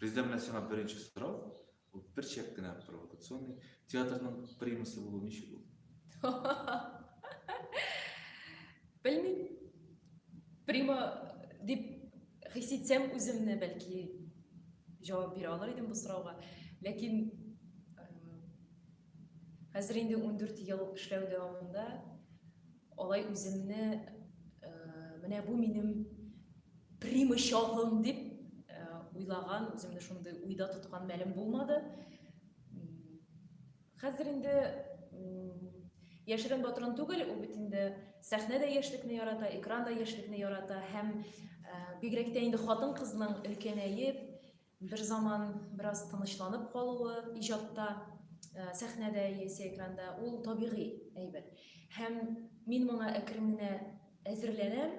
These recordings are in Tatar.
Резидә менә сиңа беренче сорау, ул бер чәк кенә провокационный. Театрның примасы булу ничек ул? Белмим. Прима дип хис итсәм үземне бәлки җавап бирә алыр идем бу сорауга. Ләкин Хәзер инде ундүрт ел эшләү дәвамында алай үземне менә бу минем прима чагым дип уйлаган, үземне шундый уйда тоткан мәлем булмады. Хәзер инде яшерен батырын түгел, ул бит инде сәхнә дә яшьлекне ярата, экран да яшьлекне ярата һәм бигрәк тә инде хатын-кызның өлкәнәеп, Берзаман бераз тынычланып калуы иҗатта, сәхнәдә яисә экранда, ул табигый әйбер. Һәм мин моңа әкрен генә әзерләнәм.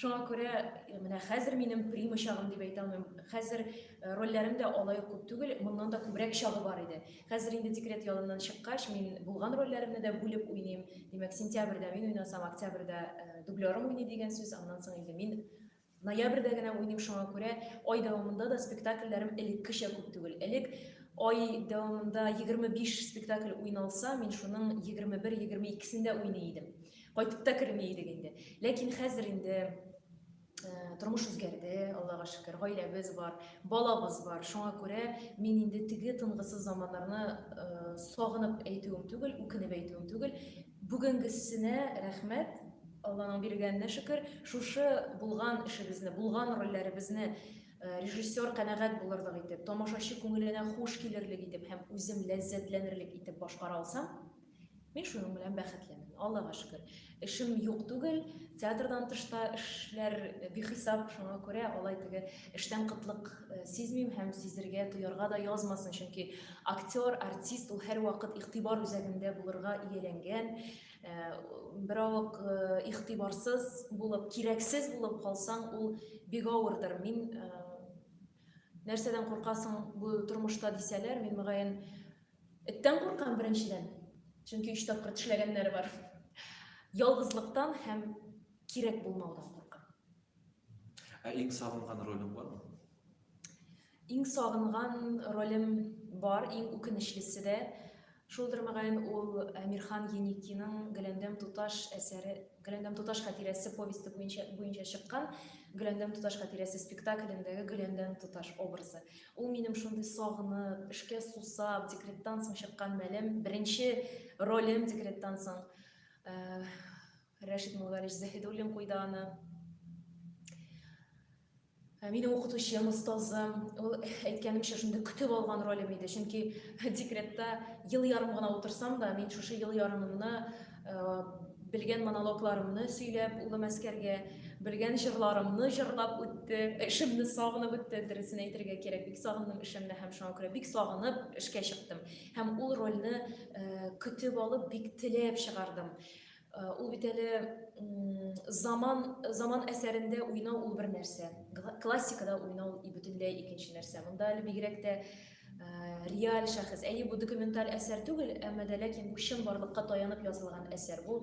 Шуңа күрә менә хәзер минем прима чагым дип әйтә алмыйм. Хәзер рольләрем дә алай ук күп түгел, моннан да күбрәк чагы бар иде. Хәзер инде декрет ялыннан чыккач, мин булган рольләремне дә бүлеп уйныйм. Димәк, сентябрьдә мин уйнасам, октябрьдә дублерым уйный дигән сүз, аннан соң инде мин Ноябрьдә генә уйныйм, шуңа күрә ай дәвамында да спектакльләрем элеккечә күп түгел. Элек ай дәвамында 25 спектакль уйналса, мин шуның 21-22-сендә уйный идем. Кайтып та керми идек инде. Ләкин хәзер инде тормыш үзгәрде, Аллага шөкер, гаиләбез бар, балабыз бар. Шуңа күрә мин инде теге тынгысыз заманнарны сагынып әйтүем түгел, үкенеп әйтүем түгел. Бүгенгесенә рәхмәт, Алланың биргәненә шөкер, шушы булган эшебезне, булган рольләребезне режиссер канәгать булырлык итеп, тамашачы күңеленә хуш килерлек итеп һәм үзем ләззәтләнерлек итеп башкара алсам, мин шуның белән бәхетлемен. Аллага шөкер. Эшем юк түгел, театрдан тышта эшләр бихисап, шуңа күрә алай теге эштән кытлык сизмим һәм сизергә, тоярга да язмасын, чөнки актер, артист ул һәрвакыт игътибар үзәгендә булырга ияләнгән. Беравык игътибарсыз булып, кирәксез булып калсаң, ул бик авырдыр. Мин нәрсәдән куркасың бу тормышта дисәләр, мин мөгаен эттән куркам беренчедән. Чөнки өч тапкыр тешләгәннәре бар. Ялгызлыктан һәм кирәк булмаудан куркам. Ә иң сагынган ролең бармы? Иң сагынган ролем бар, иң үкенечлесе дә шулдыр, мөгаен, ул Әмирхан Еникиның Гөләндәм туташ әсәре, Гөләндәм туташ хатирәсе повесте буенча буенча чыккан Гөләндәм туташ хатирәсе спектаклендәге Гөләндәм туташ образы. Ул минем шундый сагынып, эшкә сусап, декреттан соң чыккан мәлем, беренче ролем декреттан соң. Э, Рәшит Муллалич Заһидуллин куйды аны. Ә минем укытучым, остазым, ул әйткәнемчә шундый көтеп алган ролем иде, чөнки декретта ел ярым гына утырсам да, мин шушы ел ярымымны э, белгән монологларымны сөйләп, улым әскәргә белгән җырларымны җырлап үтте, эшемне сагынып үтте, дөресен әйтергә кирәк, бик сагындым эшемне һәм шуңа күрә бик сагынып эшкә чыктым. Һәм ул рольне э, көтеп алып, бик теләп чыгардым. Ул бит әле заман заман әсәрендә уйнау ул бер нәрсә, классикада уйнау бөтенләй икенче нәрсә. Монда әле бигрәк тә реаль шәхес. Әйе, бу документаль әсәр түгел, әмма дә ләкин бу чын барлыкка таянып язылган әсәр. Бу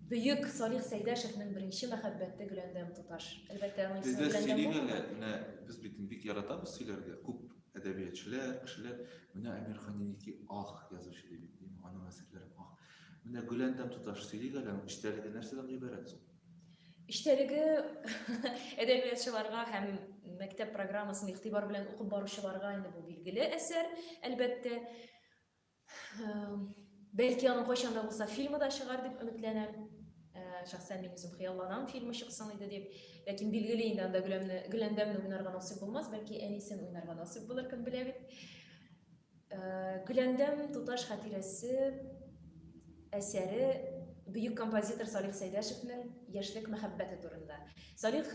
бөек Салих Сәйдәшевнең беренче мәхәббәте Гөләндәм туташ. Әлбәттә, аның исеме Гөләндәм. Бездә сөйлиләр әле, менә без бит бик яратабыз сөйләргә. Күп әдәбиятчылар, кешеләр, менә Әмирхан Еники ах язучы дип, аның әсәрләре ах. Менә Гөләндәм туташ, сөйлик әле аның эчтәлеге нәрсәдән гыйбарәт соң? Эчтәлеге әдәбиятчыларга һәм мәктәп программасын игътибар белән укып баручыларга инде бу билгеле әсәр, әлбәттә. Бәлки аның кайчан да булса фильмы да чыгар дип өметләнәм. Шәхсән мин үзем хыялланам фильмы чыксын иде дип. Ләкин билгеле инде анда Гөләндәмне уйнарга насыйп булмас, бәлки әнисен уйнарга насыйп булыр, кем белә бит. Гөләндәм туташ хатирәсе әсәре бөек композитор Салих Сәйдәшевнең яшьлек мәхәббәте турында. Салих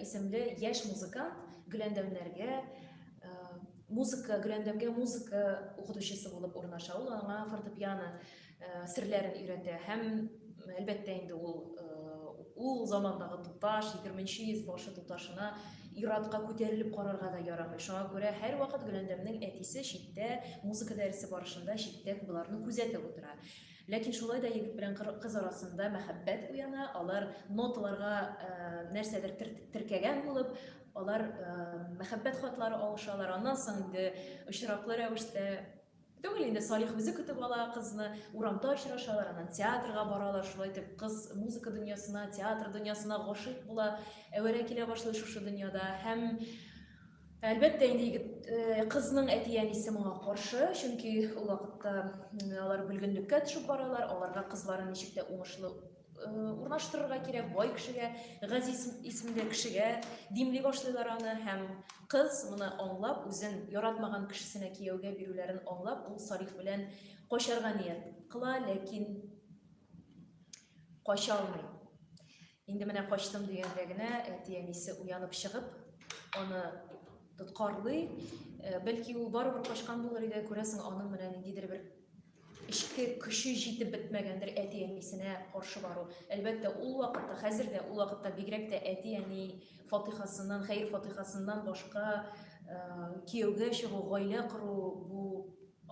исемле яшь музыкант Гөләндәмнәргә музыка, Гөләндәмгә музыка укытучысы булып урнаша. Ул аңа фортепиано серләрен өйрәтә һәм әлбәттә инде ул ул замандагы туташ егерменче йөз башы туташына иратка күтәрелеп карарга да ярамый шуңа күрә һәрвакыт гөләндәмнең әтисе читтә музыка дәресе барышында читтән боларны күзәтеп утыра ләкин шулай да егет белән кыз арасында мәхәббәт уяна алар ноталарга нәрсәдер теркәгән булып алар мәхәббәт хатлары алышалар аннан соң инде очраклы рәвештә Түгел инде, Салих үзе көтеп ала кызны, урамда очрашалар, аннан театрга баралар, шулай итеп кыз музыка дөньясына, театр дөньясына гашыйк була, әвәрә килә башлый шушы дөньяда һәм Әлбәттә инде егет э, кызның әти-әнисе моңа каршы, чөнки ул вакытта алар бүлгенлеккә төшеп баралар, аларга кызларын ничек тә уңышлы урнаштырырга кирәк бай кешегә, Газиз исемле кешегә димли башлыйлар аны һәм кыз моны аңлап, үзен яратмаган кешесенә кияүгә бирүләрен аңлап, ул Салих белән качарга ният кыла, ләкин кача алмый. Инде менә качтым дигәндә генә әти-әнисе уянып чыгып, аны тоткарлый. Бәлки ул барыбер качкан булыр иде, күрәсең, аның менә ниндидер бер эчке көче җитеп бетмәгәндер әти-әнисенә каршы бару. Әлбәттә, ул вакытта, хәзер дә, ул вакытта бигрәк тә әти-әни фатихасыннан, хәер фатихасыннан башка кияүгә чыгу, гаилә кору, бу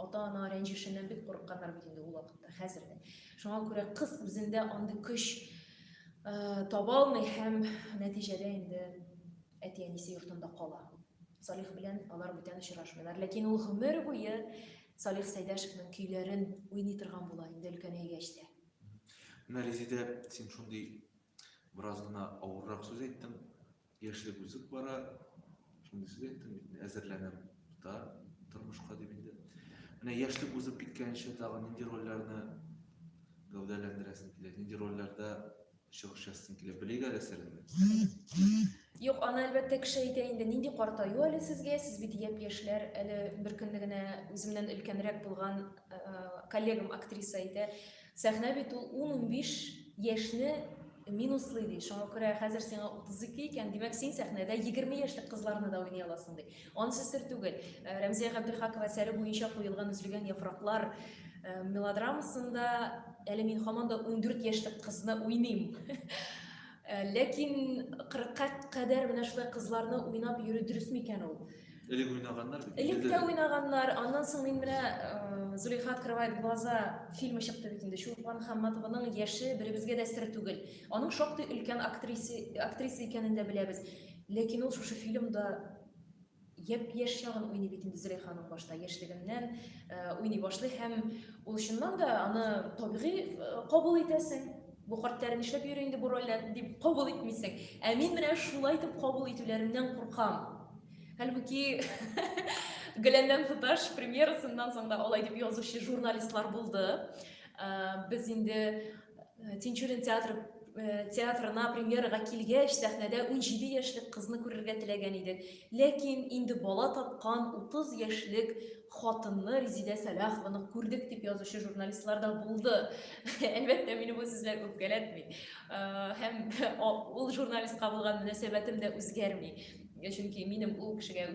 ата-ана рәнҗешеннән бик курыкканнар бит инде ул вакытта, хәзер дә. Шуңа күрә кыз үзендә андый көч таба алмый һәм нәтиҗәдә инде әти-әнисе йортында кала. Салих белән алар бүтән очрашмыйлар, ләкин ул гомер буе Салих Сәйдәшевның көйләрен уйный торган була инде өлкәнәйгәч тә. Менә Резидә, син шундый бераз гына авыррак сүз әйттең. Яшьлек узып бара, шундый сүз әйттең бит, мин әзерләнәм да тормышка дип инде. Менә яшьлек узып киткәнче тагын нинди рольләрне гәүдәләндерәсең килә, нинди рольләрдә Чук частен килеп белик әле сереңне. Юк, аны әлбәттә кеше әйтә инде. Нинди картаю әле сезгә? Сез бит яп яшьләр. Әле бер көнне генә үземнән өлкәнрәк булган э, коллегам актриса әйтә. Сәхнә бит ул 10-15 яшьне минуслый ди. Шуңа күрә хәзер сиңа 32 икән, димәк син сәхнәдә 20 яшьлек кызларны да уйный аласың ди. Ансыз сер түгел, Рәмзия Габделхакова әсәре буенча куелган Өзелгән яфраклар мелодрамасында әле мин һаман да 14 яшьлек кызны уйныйм. Ләкин 40-ка кадәр менә шулай кызларны уйнап йөрү дөрес микән ул? Элек уйнаганнар бит. Элек тә уйнаганнар. Аннан соң мин менә э, Зулейха открывает глаза фильмы чыкты бит инде. Чулпан Хамматованың яше беребезгә дә сер түгел. Аның шактый өлкән актриса актриса икәнен дә беләбез. Ләкин ул шушы фильмда япь-яшь чагын уйный бит инде Зөләйханың башта, яшьлегеннән уйный башлый һәм ул чыннан да аны табигый кабул итәсең. Бу картлар нишләп йөри инде бу рольләр дип кабул итмисең. Ә мин менә шулай итеп кабул итүләреннән куркам. Хәлбуки Гөләндәм туташ премьерасыннан соң да алай дип язучы журналистлар булды. Без инде Э, тинчурин театры э, театрына премьерага килгәч сәхнәдә 17 яшьлек кызны күрергә теләгән идек ләкин инде бала тапкан 30 яшьлек хатынны резидә сәлахованы күрдек дип язучы журналистлар да булды әлбәттә мине бу сүзләр үпкәләтми э, һәм ул журналистка булган мөнәсәбәтем дә үзгәрми чөнки минем ул кешегә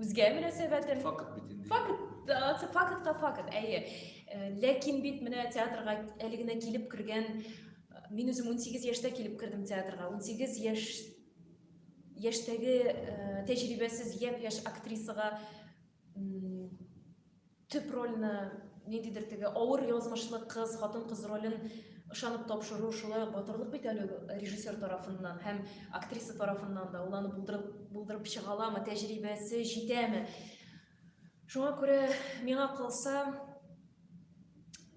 Үзгә мөнәсәбәтем. Факт бит инде. Факт, э, фактка факт, әйе. Э, ләкин бит менә театрга әле генә килеп кергән, э, мин үзем 18 яшьтә килеп кердем театрга. 18 яшь яшьтәге тәҗрибәсез япь-яшь актрисага Төп рольне, ниндидер теге авыр язмышлы кыз, хатын-кыз ролен ышанып тапшыру, шулай ук батырлык бит әле ул режиссер тарафыннан һәм актриса тарафыннан да. Ул аны булдырып, булдырып чыга аламы, тәҗрибәсе җитәме? Шуңа күрә, миңа калса,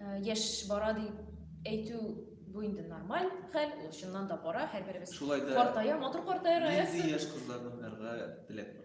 э, яшь бара дип әйтү бу инде нормаль хәл, ул чыннан да бара, һәрберебез Шулай да картая, матур картая Раяз. Нинди яшь кызларны уйнарга теләк бар?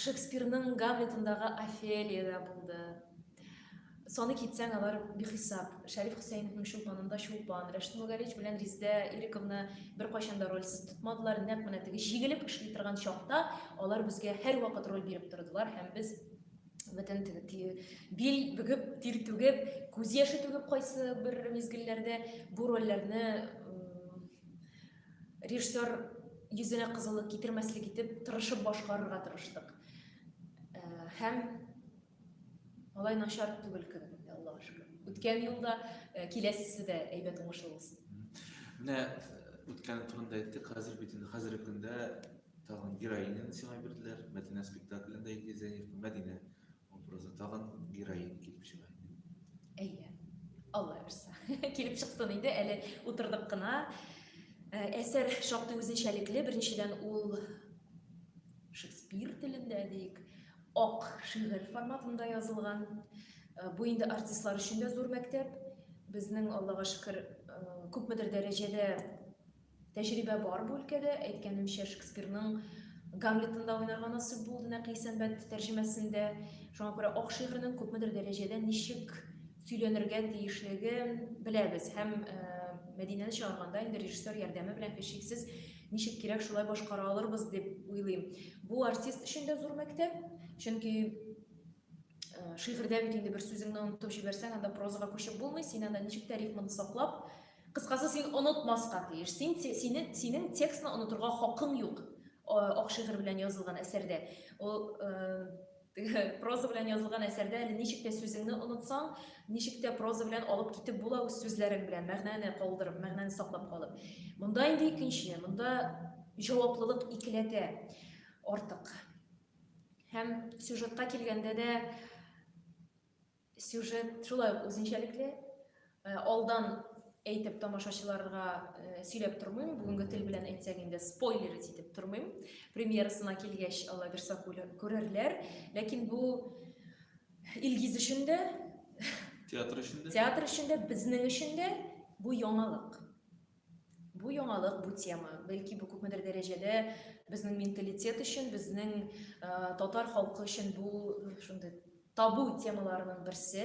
Шекспирның Гамлетындагы Офелия да булды. Саны китсәң, алар бихисап. Шәриф Хөсәеновның Чулпанында Чулпан, Рәшит Мөгалич белән Риздә Ириковны беркайчан да рольсез тотмадылар. Нәкъ менә теге җигелеп эшли торган чакта алар безгә һәрвакыт роль биреп тордылар һәм без бөтен бил бөгеп, тир түгеп, күз яше түгеп кайсы бер мизгелләрдә бу рольләрне Режиссер йөзенә кызыллык китермәслек итеп тырышып башкарырга тырыштык. Э, һәм алай начар түгел кебек инде, Аллага шөкер. Үткән елда э, киләсесе дә әйбәт уңышлы булсын. Менә үткәне турында әйттек, хәзер бит инде хәзерге көндә тагын героиняны сиңа бирделәр. Мәдинә спектаклендә Илгиз Зәйневка Мәдинә Образы тагын героин килеп чыга. Әйе. Алла бирса. Килеп чыксын инде, әле утырдык кына. Э, әсәр шактый үзенчәлекле. Беренчедән ул Шекспир телендә дик, ак шигырь форматында язылган. Э, бу инде артистлар өчен дә зур мәктәп. Безнең, Аллага шөкер, э, күпмедер дәрәҗәдә Тәҗрибә бар бу өлкәдә. Әйткәнемчә, Шекспирның Гамлетында уйнарга насыйп булды Нәкый Сәнбәт тәрҗемәсендә. Шуңа күрә ак шигырьнең күпмедер дәрәҗәдә ничек сөйләнергә тиешлеген беләбез һәм Мәдинәне чыгарганда инде режиссер ярдәме белән һичшиксез ничек кирәк шулай башкара алырбыз дип уйлыйм. Бу артист өчен дә зур мәктәп, чөнки шигырьдә бит инде бер сүзеңне онытып җибәрсәң, анда прозага күчеп булмый, син анда ничек тә рифманы саклап, Кыскасы, син онытмаска тиеш. Син, синең, синең текстны онытырга хакың юк. Ак шигырь белән язылган әсәрдә. Ул проза белән язылган әсәрдә әле ничек тә сүзеңне онытсаң, ничек тә проза белән алып китеп була үз сүзләрең белән, мәгънәне калдырып, мәгънәне саклап калып. Монда инде икенче, монда җаваплылык икеләтә артык. Һәм сюжетка килгәндә дә Сюжет шулай ук үзенчәлекле. Э, алдан әйтеп тамашачыларга э, сөйләп тормыйм, бүгенге тел белән әйтсәк инде спойлер итеп тормыйм. Премьерасына килгәч, алла бирса күрерләр. Ләкин бу Илгиз өчен дә, театр өчен дә, театр өчен дә, безнең өчен дә бу яңалык. Бу яңалык, бу тема. Бәлки бу күпмедер дәрәҗәдә безнең менталитет өчен, безнең э, татар халкы өчен бу шундый табу темаларының берсе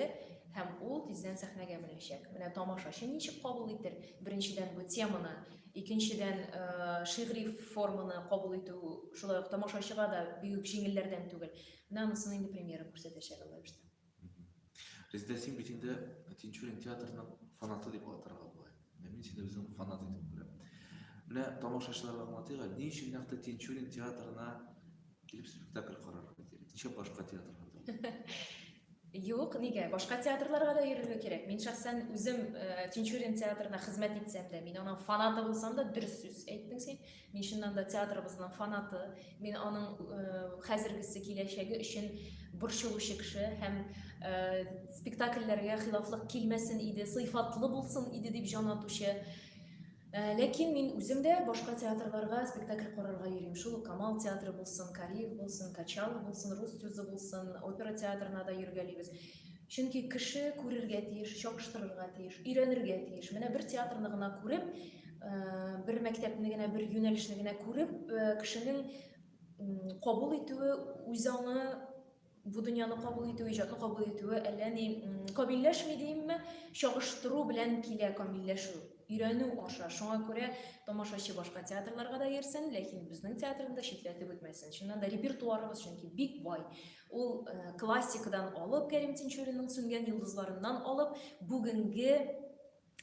һәм ул тиздән сәхнәгә менәчәк. Менә тамашачы ничек кабул итер? Беренчедән бу теманы, икенчедән э, шигъри форманы кабул итү шулай ук тамашачыга да бигүк җиңелләрдән түгел. Менә анысын инде премьера күрсәтәчәк алар Резидә, син бит инде Тинчурин театрының фанаты дип атырга була. Менә мин сине үзем фанат итеп күрәм. Менә тамашачыларга аңлатыйк, ни өчен нәкъ Тинчурин театрына килеп спектакль карарга кирәк? Ничә башка театрга да? Юк, нигә? Башка театрларга да йөрергә кирәк. Мин шәхсән үзем э, Тинчурин театрына хезмәт итсәм дә, мин аның фанаты булсам да, дөрес сүз әйттең син. Мин чыннан да театрыбызның фанаты, мин аның хәзергесе, киләчәге өчен борчылучы кеше һәм спектакльләргә хилафлык килмәсен иде, сыйфатлы булсын иде дип җан атучы Э, ләкин мин үзем дә башка театрларга спектакль карарга йөрим шул камал театры булсын кариев булсын качалов булсын рус тюзы булсын опера театрына да йөргәлибез Чөнки кеше күрергә тиеш, чагыштырырга тиеш, өйрәнергә тиеш. Менә бер театрны гына күреп, бер мәктәпне генә, бер юнәлешне генә күреп, кешенең кабул итүе, үз аңы бу дөньяны кабул итү, иҗатны кабул итүе әллә ни камилләшми димме, чагыштыру белән килә камилләшү, өйрәнү аша. Шуңа күрә тамашачы башка театрларга да йөрсен, ләкин безнең театрны да читләтеп үтмәсен. Чыннан да репертуарыбыз чөнки бик бай. Ул классикадан алып, Кәрим Тинчуринның Сүнгән йолдызларыннан алып, бүгенге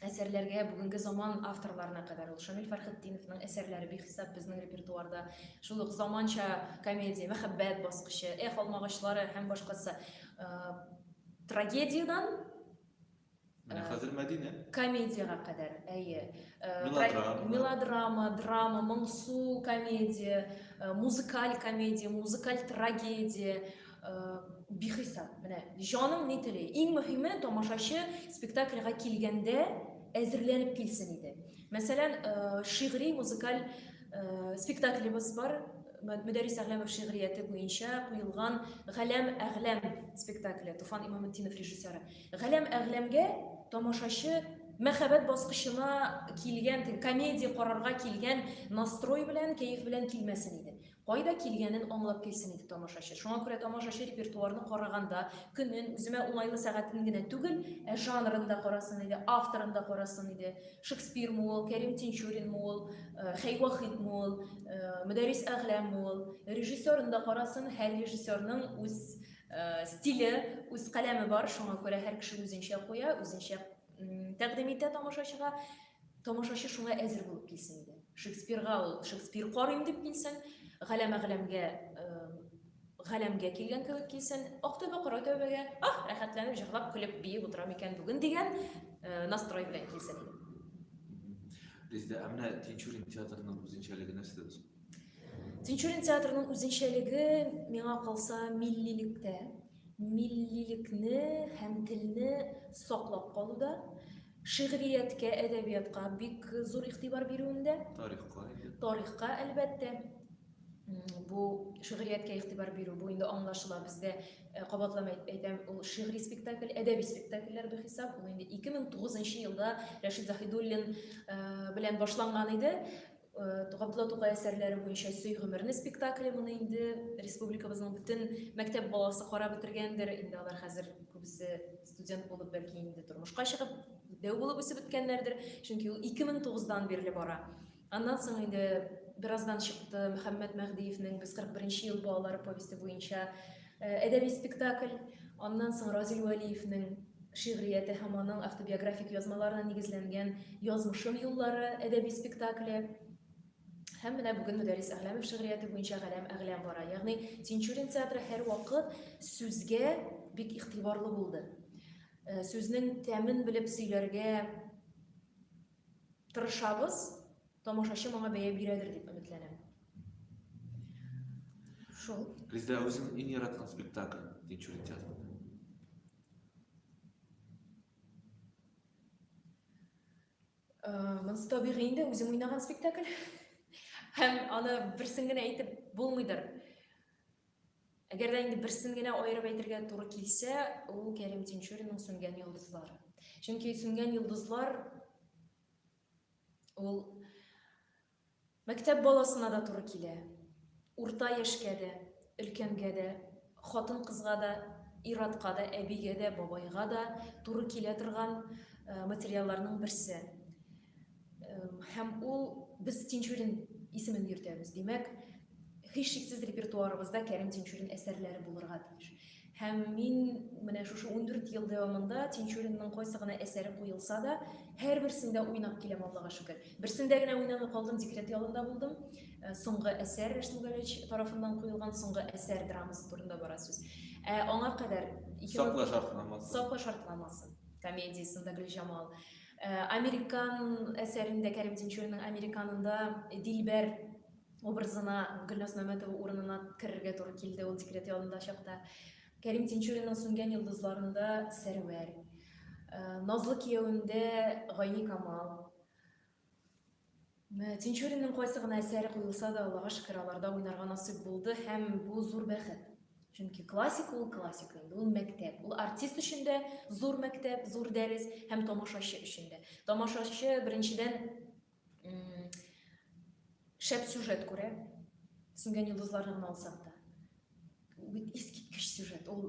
әсәрләргә, бүгенге заман авторларына кадәр ул Шамил Фәрхетдиновның әсәрләре бихисап безнең репертуарда. Шул ук заманча комедия, мәхәббәт баскычы, Эх, алмагачлары һәм башкасы. Трагедиядән Менә э, хәзер Мәдинә. Комедиягә кадәр, әйе. Э, мелодрама. Мелодрама, драма, моңсу комедия, э, музыкаль комедия, музыкаль трагедия, бихисап. Менә җаның ни тели. Иң мөһиме тамашачы спектакльга килгәндә әзерләнеп килсен иде. Мәсәлән, шигъри музыкаль спектаклебыз бар, Мөдәрис Әгъләмов шигърияте буенча куелган Галәм Әгъләм спектакле, Туфан Имаметдинов режиссеры. Галәм әгъләмгә тамашачы мәхәббәт баскычына килгән, комедия карарга килгән настрой белән, кәеф белән килмәсен иде. Кайда килгәнен аңлап килсен иде тамашачы. Шуңа күрә тамашачы репертуарны караганда, көнен, үземә уңайлы сәгатен генә түгел, ә жанрын да карасын иде, авторын да карасын иде. Шекспир мы ул, Кәрим Тинчурин мы ул, э, Хәй Вахит мы ул, э, Мөдәррис Әгъләм мы ул. Режиссерын да карасын, һәр режиссерның үз Стиле, үз каләме бар, шуңа күрә һәр кеше үзенчә куя, үзенчә тәкъдим итә тамашачыга. Тамашачы шуңа әзер булып килсен иде. Шекспирга ул Шекспир карыйм дип килсен, галәмә галәмгә галәмгә килгән кебек килсен, ак тәүбә кара тәүбәгә, ах, рәхәтләнеп җырлап, көлеп, биеп утырам икән бүген дигән настрой белән килсен иде. Бездә ә менә Тинчурин театрының үзенчәлеге нәрсәдә? Тинчурин театрының үзенчәлеге миңа калса миллилектә, миллилекне һәм телне саклап калуда, шигърияткә, әдәбиятка бик зур игътибар бирүендә. Тарихка. Тарихка, әлбәттә. Бу шигърияткә игътибар бирү бу инде аңлашыла бездә э, кабатлам әйтәм, ул шигъри спектакль, әдәби спектакльләр бер хисап. Ул инде 2009 елда Рәшит Заһидуллин э, белән башланган иде. Габдулла Тукай әсәрләре буенча Сөй гомерне спектакле моны инде республикабызның бөтен мәктәп баласы карап бетергәндер. Инде алар хәзер күбесе студент булып, бәлки инде тормышка чыгып, дәү булып үсеп беткәннәрдер. Чөнки ул 2009-дан бирле бара. Аннан соң инде бераздан чыкты Мөхәммәт Мәһдиевнең Без 41 ел балалары повесте буенча Э, әдәби спектакль, аннан соң Разил Вәлиевнең шигърияте һәм аның автобиографик язмаларына нигезләнгән Язмышым юллары әдәби спектакле һәм менә бүген Мөдәррис Әгъләмов шигърияте буенча Галәм Әгъләм бара. Ягъни Тинчурин театры һәрвакыт сүзгә бик игътибарлы булды. Э, сүзнең тәмен белеп сөйләргә тырышабыз, Тамашачы моңа бәя бирәдер дип өметләнәм. Шул. Резидә үзең иң яраткан спектакль Тинчурин театрында. Монсы табигый инде үзем уйнаган спектакль. Һәм аны берсен генә әйтеп булмыйдыр. Әгәр дә инде берсен генә аерып әйтергә туры килсә, ул Кәрим Тинчуринның Сүнгән йолдызлар. Чөнки Сүнгән йолдызлар Ул мәктәп баласына да туры килә. Урта яшькә дә, өлкәнгә дә, хатын-кызга да, иратка да, әбигә дә, бабайга да туры килә торган э, материалларның берсе. Э, һәм ул без Тинчурин исемен йөртәбез. Димәк, Һичшиксез репертуарыбызда Кәрим Тинчурин әсәрләре булырга тиеш. Һәм мин менә шушы 14 ел дәвамында Тинчуринның кайсы гына әсәре куелса да, һәрберсендә уйнап киләм, Аллага шөкер. Берсендә генә уйнамый калдым, декрет ялында булдым. Э, соңгы әсәр Рәшмүгәлевич тарафыннан куелган соңгы әсәр драмасы турында бара сүз. Ә аңа кадәр Сакла шартнамасы. Сакла шартнамасы комедиясендә Гөлҗамал. Э, Американ әсәрендә Кәрим Тинчуринның Американында Дилбәр образына Гөлназ Мәмәтова урынына керергә туры килде ул декрет ялында чакта. Кәрим Тинчуринның сүнгән йолдызларында Сәрвәр, Назлы кияүендә Гайни Камал. Тинчуринның кайсы гына әсәре куелса да, Аллага шөкер, аларда уйнарга насыйп булды һәм бу зур бәхет. Чөнки классик ул классик инде, ул мәктәп. Ул артист өчен дә зур мәктәп, зур дәрес һәм тамашачы өчен дә. Тамашачы беренчедән шәп сюжет күрә сүнгән йолдызларны гына алсак та бит искиткеч сюжет ул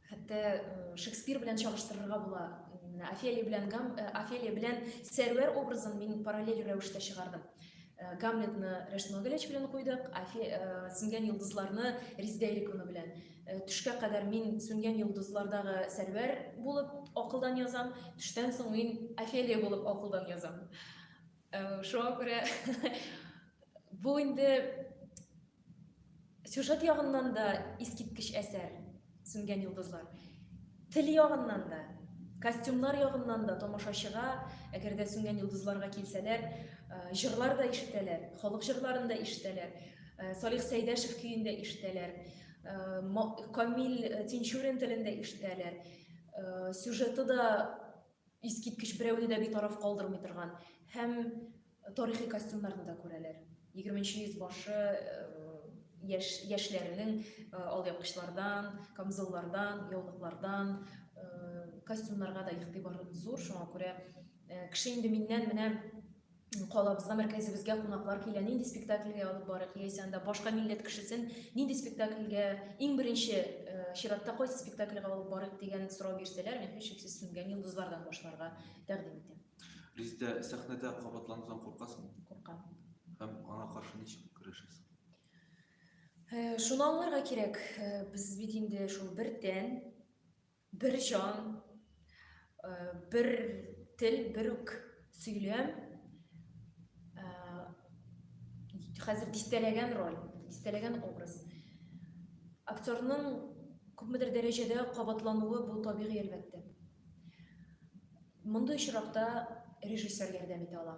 хәтта э, шекспир белән чагыштырырга була менә офелия белән гам э, офелия белән сәрвәр образын мин параллель рәвештә чыгардым э, гамлетны рәшмәгеләч белән куйдык сүнгән йолдызларны риздәйликуны белән Төшкә кадәр мин сүнгән йолдызлардагы Сәрвәр булып акылдан язам, төштән соң мин Офелия булып акылдан язам. Шуңа күрә бу инде сюжет ягыннан да искиткеч әсәр Сүнгән йолдызлар. Тел ягыннан да, костюмнар ягыннан да тамашачыга, әгәр дә Сүнгән йолдызларга килсәләр, җырлар да ишетәләр, халык җырларын да ишетәләр, Салих Сәйдәшев көен дә ишетәләр. Камил Тинчурин телендә ишетәләр. Сюжеты да искиткеч берәүне дә битараф калдырмый торган һәм тарихи костюмнарны да күрәләр. 20 йөз башы яш, яшьләренең э, алъяпкычлардан, камзуллардан, яулыклардан э, костюмнарга да игътибар зур, шуңа күрә э, кеше инде миннән менә калабызга, мәркәзебезгә кунаклар килә, нинди спектакльгә алып барыйк, яисә анда башка милләт кешесен нинди спектакльгә, иң беренче э, чиратта кайсы спектакльгә алып барыйк дигән сорау бирсәләр, мин һичшиксез сүнгән йолдызлардан башларга тәкъдим итәм. Резидә, сәхнәдә кабатланудан куркасың? Куркам. Һәм аңа каршы ничек көрәшәсең? Э, шуны аңларга кирәк, э, без бит инде шул бер тән, Бер җан, бер тел, бер үк сөйләм, хәзер дистәләгән роль, дистәләгән образ. Актерның күпмедер дәрәҗәдә кабатлануы бу табигый әлбәттә. Мондый очракта режиссер ярдәм итә ала.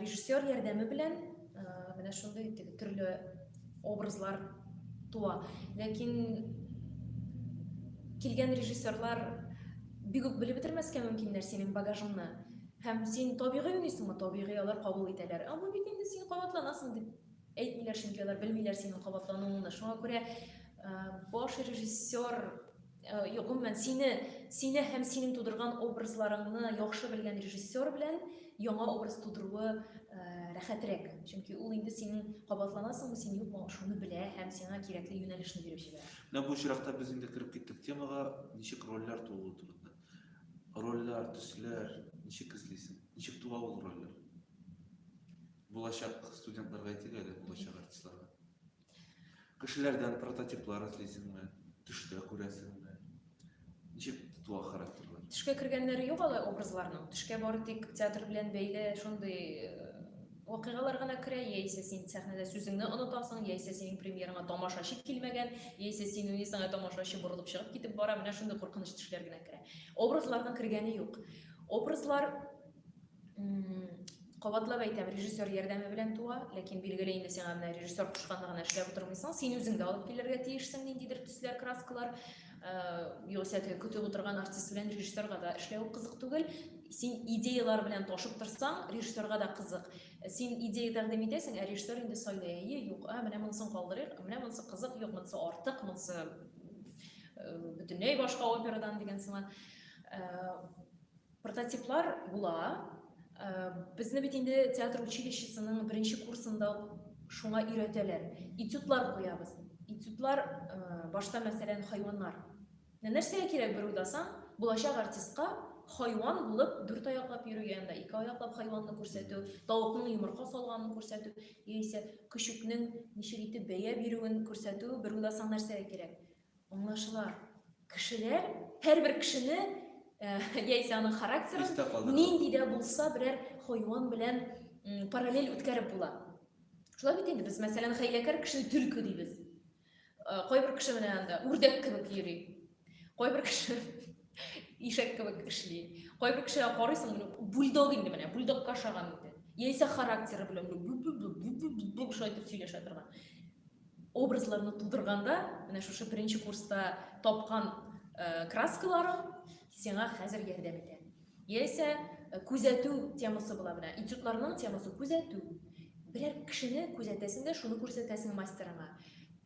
Режиссер ярдәме белән менә шундый теге төрле образлар туа. Ләкин килгән режиссерлар бик үк белеп бетермәскә мөмкиннәр синең багажыңны. Һәм син табигый уйныйсыңмы? Табигый алар кабул итәләр. Ә бу бит инде син кабатланасың дип әйтмиләр, чөнки алар белмиләр синең кабатлануыңны. Шуңа күрә баш режиссер Гомумән, сине, сине һәм синең тудырган образларыңны яхшы белгән режиссер белән яңа образ тудыруы рәхәтрәк. Чөнки ул инде синең кабатланасыңмы син, юкмы, шуны белә һәм сиңа кирәкле юнәлешне биреп җибәрә. Менә бу очракта без инде кереп киттек темага, ничек рольләр тууы турында. Рольләр, төсләр ничек эзлисең? Ничек туа ул рольләр? Булачак студентларга әйтик әле, булачак артистларга. Кешеләрдән прототиплар эзлисеңме? Төштә күрәсеңме? Ничек тотыла характерлар? Төшкә кергәннәре юк алай образларның. Төшкә бары тик театр белән бәйле шундый э, вакыйгалар гына керә, яисә син сәхнәдә сүзеңне онытасың, яисә синең премьераңа тамашачы килмәгән, яисә син уйныйсың, ә тамашачы борылып чыгып китеп бара, менә шундый куркыныч төшләр генә керә. Образларның кергәне юк. Образлар кабатлап әйтәм режиссер ярдәме белән туа ләкин билгеле инде сиңа менә режиссер кушканны гына эшләп утырмыйсың син үзең дә алып килергә тиешсең ниндидер төсләр краскалар э, югыйсә теге көтеп утырган артист белән режиссерга да эшләү кызык түгел син идеялар белән ташып торсаң режиссерга да кызык син идея тәкъдим итәсең ә режиссер инде сайлый әйе юк а менә монысын калдырыйк менә монысы кызык юк монысы артык монысы э, бөтенләй башка операдан дигән сыман э, Прототиплар була. Безне бит инде театр училищесының беренче курсында шуңа өйрәтәләр. Этюдлар куябыз. Этюдлар башта мәсәлән хайваннар. Нәрсәгә кирәк бер уйласаң, булачак артистка хайван булып дүрт аяклап йөрү янында ике аяклап хайванны күрсәтү, тавыкның йомырка салганын күрсәтү, яисә көчекнең ничек итеп бәя бирүен күрсәтү бер уйласаң нәрсәгә кирәк? Аңлашыла. Кешеләр, һәрбер кешене э, яисә аның характерын нинди дә булса берәр хайван белән параллель үткәреп була. Шулай бит инде без, мәсәлән, хәйләкәр кешене төлке дибез. Э, кайбер кеше менә анда үрдәк кебек йөри. Кайбер кеше ишәк кебек эшли. Кайбер кешегә карыйсың, бульдог инде менә, бульдогка ошаган инде. Яисә характеры белән шулай итеп сөйләшә торган. Образларны тудырганда, менә шушы беренче курста тапкан краскаларың сиңа хәзер ярдәм итә. Яисә күзәтү темасы була менә. Этюдларның темасы күзәтү. Берәр кешене күзәтәсең дә, шуны күрсәтәсең мастерыңа.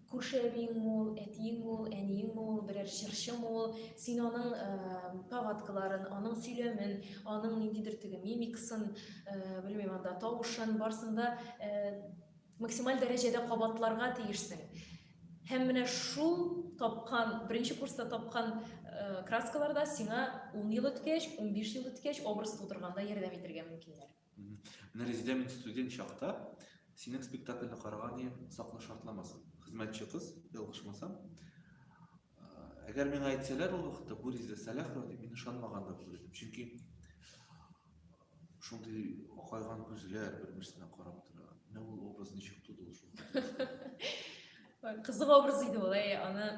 Күрше әбиең ул, әтиең ул, әниең ул, берәр җырчы ул, син аның повадкаларын, аның сөйләмен, аның ниндидер теге мимикасын, белмим, анда тавышын, барсын да Максималь дәрәҗәдә кабатларга тиешсең. Һәм менә шул тапкан, беренче курста тапкан э, краскаларда сиңа 10 ел үткәч, 15 ел үткәч образ тудырганда ярдәм итергә мөмкиннәр. Менә Резидә мин студент чакта синең спектакльне караган идем, сакны шартламасын. Хезмәтче кыз, ялгышмасам. Әгәр миңа әйтсәләр ул вакытта бу Резидә Сәләхова дип, мин ышанмаган да булыр идем. Чөнки Шундый акайган күзләр бер-берсенә карап тора. Менә ул образ ничек туды ул шул Кызык образ иде ул, әй, аны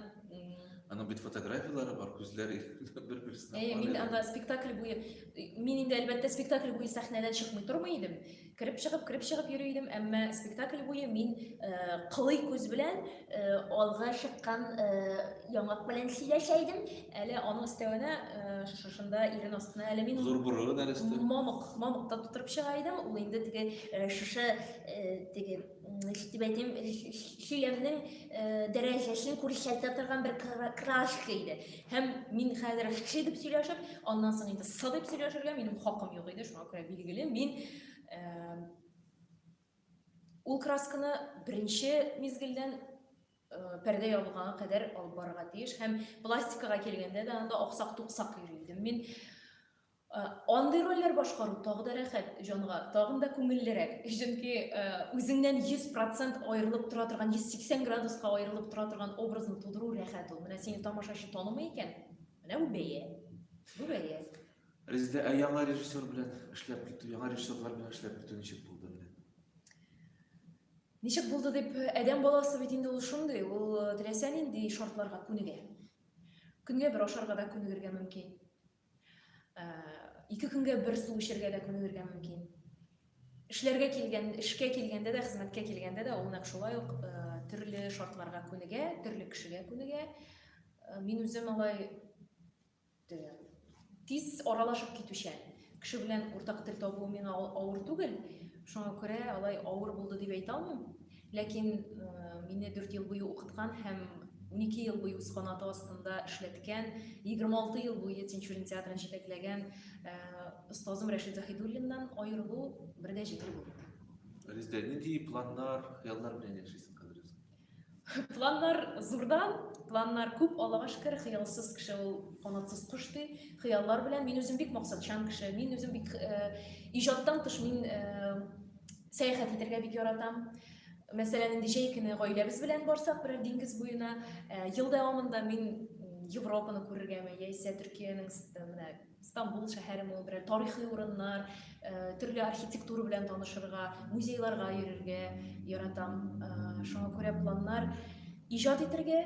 Аның бит фотографияләре бар, күзләр бер-берсенә Әй, мин анда спектакль буе, мин инде әлбәттә спектакль буе сәхнәдән чыкмый тормый идем. Кереп чыгып, кереп чыгып йөри идем, әмма спектакль буе мин э, кылый күз белән алга чыккан яңак белән сөйләшә идем. Әле аның өстәвенә шушында ирен астына әле мин Зур бурылы нәрестә. Мамык, мамыкта тутырып чыга идем. Ул инде теге шушы теге ничек дип әйтим, сөйләмнең дәрәҗәсен күрсәтә торган бер крашка иде. Һәм мин хәзер ши дип сөйләшеп, аннан соң инде сы дип сөйләшергә минем хакым юк иде. Шуңа күрә билгеле, мин Ул красканы беренче мизгелдән пәрдә ябылганга кадәр алып барырга тиеш һәм пластикага килгәндә дә анда аксак-туксак йөри идем мин. Андый рольләр башкару тагы да рәхәт җанга, тагын да күңеллерәк. Чөнки үзеңнән 100% аерылып тора торган, 180 градуска аерылып тора торган образны тудыру рәхәт ул. Менә сине тамашачы танымый икән, менә бу бәя. Бу бәя. Резедә, ә яңа режиссер белән эшләп китү, яңа режиссерлар белән эшләп китү ничек булды менә? Ничек булды дип, адәм баласы бит инде ул шундый, ул э, теләсә нинди шартларга күнегә. Көнгә бер ашарга да күнегергә мөмкин. Э, ике көнгә бер су эчәргә дә күнегергә мөмкин. Эшләргә килгән, эшкә килгәндә дә, хезмәткә килгәндә дә ул нәкъ шулай ук э, төрле шартларга күнегә, төрле кешегә күнегә. Мин үзем алай Тел. Тиз аралашып китүчән. Кеше белән уртак тел табу миңа авыр түгел. Шуңа күрә алай авыр булды дип әйтә алмыйм. Ләкин мине 4 ел буе укыткан һәм 12 ел буе үз канаты астында эшләткән, 26 ел буе Тинчурин театрын җитәкләгән остазым Рәшит Заһидуллиннан аерылу бер дә җиңел булмады. Резидә, нинди планнар, хыяллар белән яшисең хәзер? Планнар зурдан, планнар күп, Аллага шөкер, хыялсыз кеше ул канатсыз кош ди. Хыяллар белән мин үзем бик максатчан кеше, мин үзем бик э, иҗаттан тыш мин э, сәяхәт итәргә бик яратам. Мәсәлән, инде җәй көне гаиләбез белән барсак, берәр диңгез буена, э, ел дәвамында мин Европаны күрергәме, яисә Төркиянең менә Стамбул шәһәре моңы белән тарихи урыннар, төрле архитектура белән танышырга, музейларга йөрергә яратам. Шуңа күрә планнар иҗат итергә,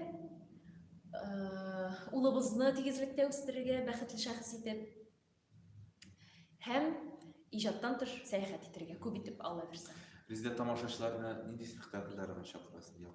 улыбызны тигезлектә үстерергә, бәхетле шәхес итеп һәм иҗаттан тыш сәяхәт итергә күп итеп алла бирсә. Резидент тамашачыларына нинди спектакльләр гына чакырасың?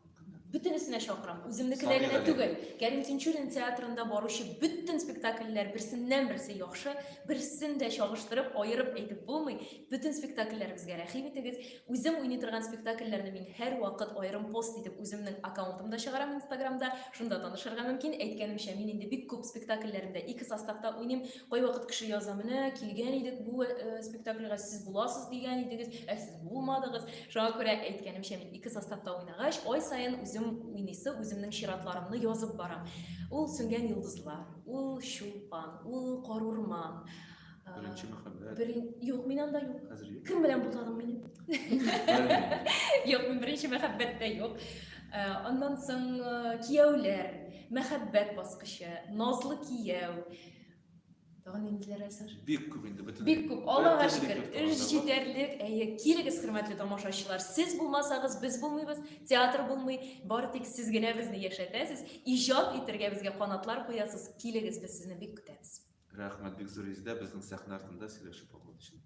бөтенесенә чакырам. Үземнекенә генә түгел. Кәрим Тинчурин театрында баручы бөтен спектакльләр берсеннән-берсе яхшы, берсен дә чагыштырып, аерып әйтеп булмый. Бөтен спектакльләребезгә рәхим итегез. Үзем уйный торган спектакльләрне мин һәрвакыт аерым пост итеп үземнең аккаунтымда чыгарам Инстаграмда. Шунда танышырга мөмкин. Әйткәнемчә, мин инде бик күп спектакльләремдә ике составта уйныйм. Кайвакыт кеше яза, менә килгән идек бу спектакльгә, сез буласыз дигән идегез, ә сез булмадыгыз. Шуңа күрә әйткәнемчә, мин ике составта уйнагач, ай саен үзем уйныйсы, үземнең чиратларымны язып барам. Ул сүнгән йолдызлар, ул чулпан, ул карурман. Беренче мәхәббәт. Берен... Юк, мин анда юк. Хәзер юк. Кем белән булганым минем? Юк, мин беренче мәхәббәттә юк. Аннан соң кияүләр, мәхәббәт баскычы, назлы кияү, Тагын ниндиләр әзер? Бик күп инде бөтен. Бик күп. Аллага шөкер, эш җитәрлек. Әйе, килегез, хөрмәтле тамашачылар. Сез булмасагыз, без булмыйбыз, театр булмый. Бары тик сез генә безне яшәтәсез, иҗат итәргә безгә канатлар куясыз. Килегез, без сезне бик көтәбез. Рәхмәт, бик зур изде безнең сәхнә артында сөйләшеп алган өчен.